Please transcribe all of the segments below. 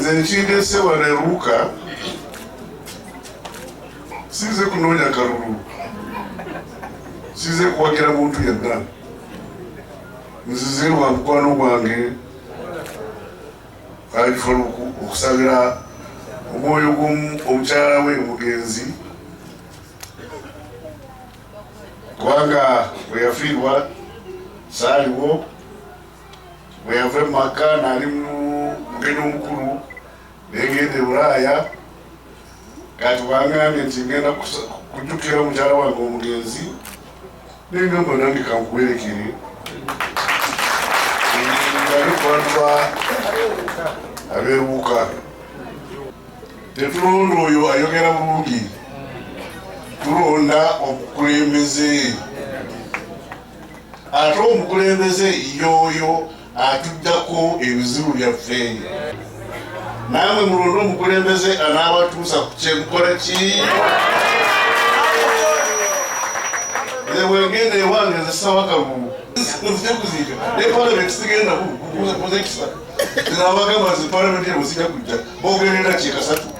nze nkindese wano eruka sinze kunoonya kalulu sinze kuwagira muntu yenna nzize wa mukwano gwange alifuna okusabira omwoyo gw'omukyala we omugenzi kubanga bwe yafiirwa saaliwo bwe yava mu maka naali mugeni omukulu negenda ebulaaya kati wangambye nti ngenda kujjukira mukyala wange omugenzi nengamba nange kankuwerekere ngalikubantuba abeewuka tetulonda oyo ayogera bulungi tulonda omukulembeze ate omukulembeze yooyo atuddako ebizibu byaffe naamwe mulonde omukulembeze anaabatuusa ku kyemukola ki wengenda ewange nzisawa kagugu nzija kuziika ne palamenti sigenda kuzekisa nabagamba nze palamenti ebo sija kujja bogerera kyekasatu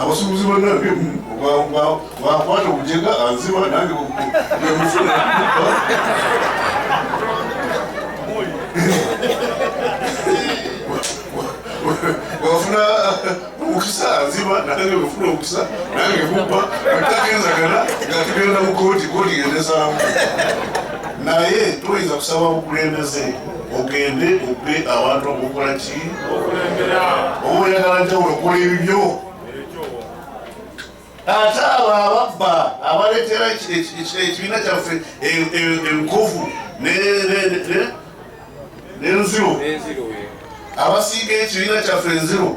abasuubuzi bonna bimu bakwata obujega anziba nange bwemufuna wafuna omukisa anziba nange wefuna omukisa nange mubba atagenzagana nga tugenda mu kooti kooti gendesaamu naye tuyinza kusaba bukulembeze ogende ope abantu okukola ki owoyagala njawulo okola ebibyo ate abo ababba abaletera ekibiina kyaffe enkovu nenziro abasiiga ekibiina kyaffe enziro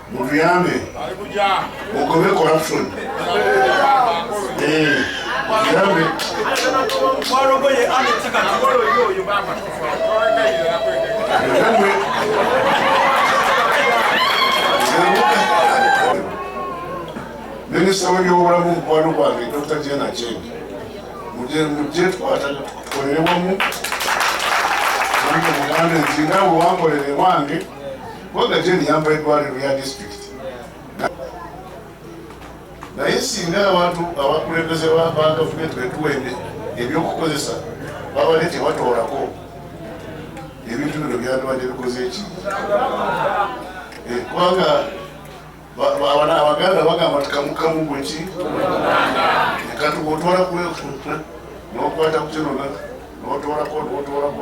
mutuyambe mugobe corruption eh, mutuyambe minisita webyobulamu mukwano gwange dr jena jeni muje twata tukolere wamu mugambe nti nga wewankolere wange kubanga gye niyamba eddwaliro lya disitulikiti naye singa abantu abakulembeze ba gavumenti betuwende ebyokukozesa babale tebatoolako ebintu bino byandibadde bikoze eki eh, kubanga abaganda bagamba tikamukamu gweki kati otwala kuweku nokwata kukinona notwalako notwalako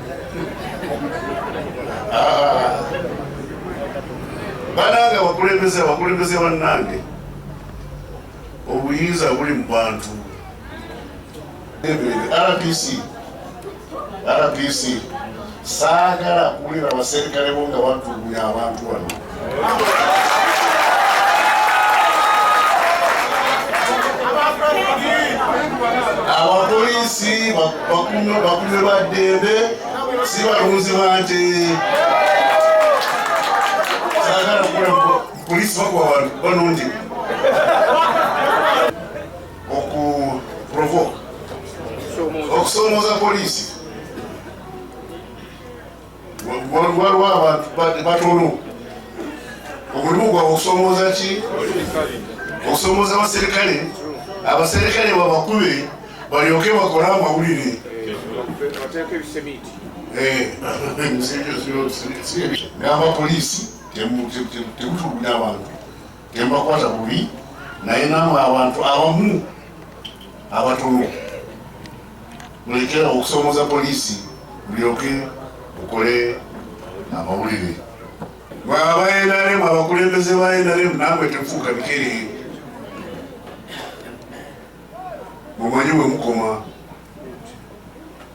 Ah. banange abakulembeze abakulembeze bannange obuyinza buli mu bantu rdc rdc saagala kuwulira abaserikale bo nga batulugunya abantu wano abapoliisi bakume ba ddembe si balunzi ba nte sagala kukula polisi bakuba balungi okuprovoka okusomooza polisi waliwo abantu batono omulimu gwabwe okusomooza ki okusomooza abaserikale abaserikale babakube balyoke bakole amawulire n'abapoliisi eh, temutuguda abantu tembakwata bubi naye namwe abantu abamu abatono mulekera okusomoza poliisi mulyoke mukole amawulire mwe aba nrm abakulembeze ba nrm namwe tefuuka bikere mumanyi wemukoma